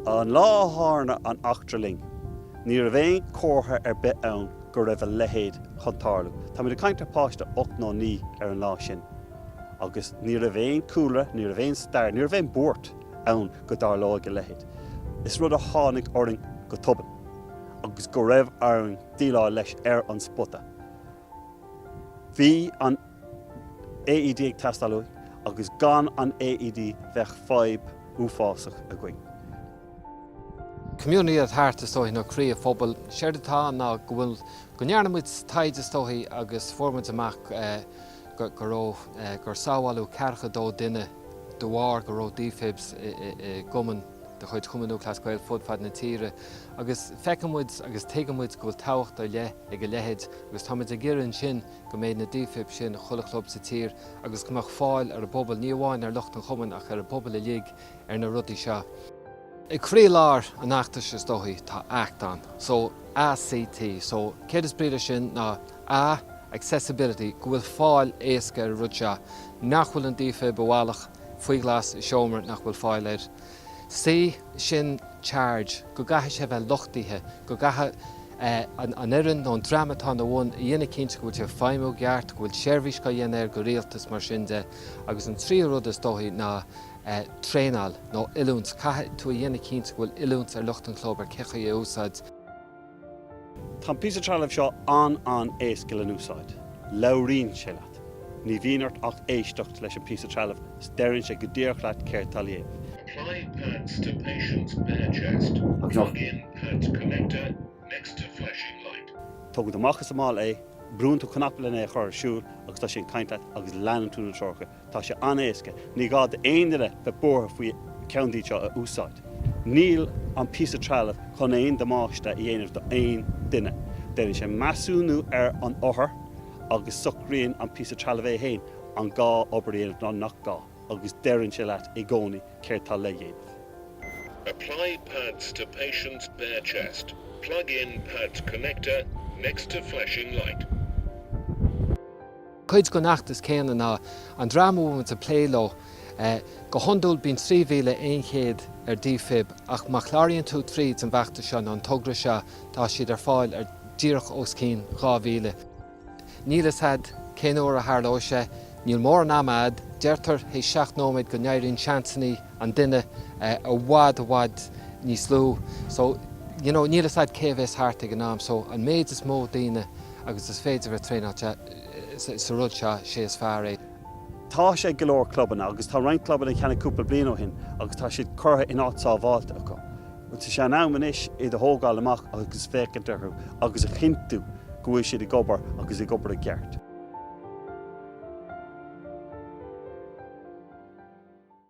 An lá a tharla an eachtra linn, ní raibh aon chomhartha ar bith ann go raibh a leithéid chun tarlú. Táimid ag caint ar pháiste ocht nó naoi ar an lá sin agus ní raibh aon chúlra, ní raibh aon stair, ní raibh aon bhuairt ann go dtarlóidh a leithéid. Is rud a tháinig orainn go tobann agus go raibh orainn déileáil leis ar an spota. Bhí an AED ag teastáil uaidh agus gan an AED bheadh fadhb uafásach againn. Community at heart, is dóichí nó croí an phobail. Séard atá ann ná go bhfuil, go ndearna muid taighde is dóichí agus fuair muid amach go raibh, gur sábháileadh ceathracha dó duine de bharr go raibh Defibs i gcumann. de chuid Chumann Lúthchleas Gael fud fad na tíre agus feiceann muid agus tuigeann muid go bhfuil tábhacht ar leith ag a leithéid agus táimid ag iarraidh ansin go mbeidh na defib sin i chuile chlub sa tír agus go mbeadh fáil ar an bpobal, ní amháin ar lucht an chumainn ach ar an bpobal uilig ar na rudaí seo. Ag croílár an fheachtais is dóichí tá act ann, so ACT, so céard is brí leis sin ná A, Accessibility, go bhfuil fáil éasca ar an rud seo, nach bhfuil an defib i bhfalach, faoi ghlas i seomra nach bhfuil fáil air. C, sin charge, go gcaithfidh sé bheith luchtaithe, go gcaithfidh an fhoireann nó an dream atá ina bhun a dhéanamh cinnte go bhfuil sé ag feidhmiú i gceart, go bhfuil seirbhís á dhéanamh air go rialta is mar sin de. Agus an tríú rud is dóichí ná traenáil nó oiliúint. Caithfidh tú a dhéanamh cinnte go bhfuil oiliúint ar lucht an chlub ar cé chaoi é a úsáid. Tá an píosa trealaimh seo an-an-éasca le n-úsáid. Labhraíonn sé leat. Ní bhíonn ort ach éisteacht leis an píosa trealaimh 's deireann sé go díreach leat céard tá le déanamh. Apply pads to patient's bare chest. Plug in pads connector next to flashing light. Tógann tú amach as an mála é, brúann tú cnaipe len é a chur ar siúl agus tá sé ag caint leat agus leanann tú na treoracha. Tá sé an-éasca, ní gá d'aon duine bheith buartha faoi ceann díobh seo a úsáid. Níl an píosa trealaimh chun aon damáiste a dhéanamh d'aon duine. Déanann sé measúnú ar an othar agus socraíonn an píosa trealaimh é féin an gá obair a dhéanamh nó nach gá agus deireann sé leat i gcónaí céard tá le dhéanamh. Apply pads to patient's bare chest, plug in pads connector next to flashing light. Cuid den fheachtas céanna ná an dream a bhfuilimid ag plé leo. Go hiondúil bíonn 3,100 ar defib ach má chláraíonn tú tríd an bhfeachtas seo nó an togra seo tá siad ar fáil ar díreach os cionn 2,000. Níl 'fhios a'd cén uair a tharlóidh sé, níl mórán ama a'd, deirtear théis seacht nóiméad go n-éiríonn seansanna an duine i bhfad i bhfad níos lú so you know níl 'fhios a'd cé a bhéas thart ag an am so an méid is mó daoine agus is féidir a thraenáil. sa rud seo, sé is fearr é. Tá sé ag go leor clubanna agus tá roinnt clubanna a cheannaigh cúpla bliain ó shin agus tá siad curtha in áit sábháilte acu. Tá sé in am anois iad a thógáil amach agus féachaint orthu agus a chinntiú go bhfuil siad ag obair agus ag obair i gceart.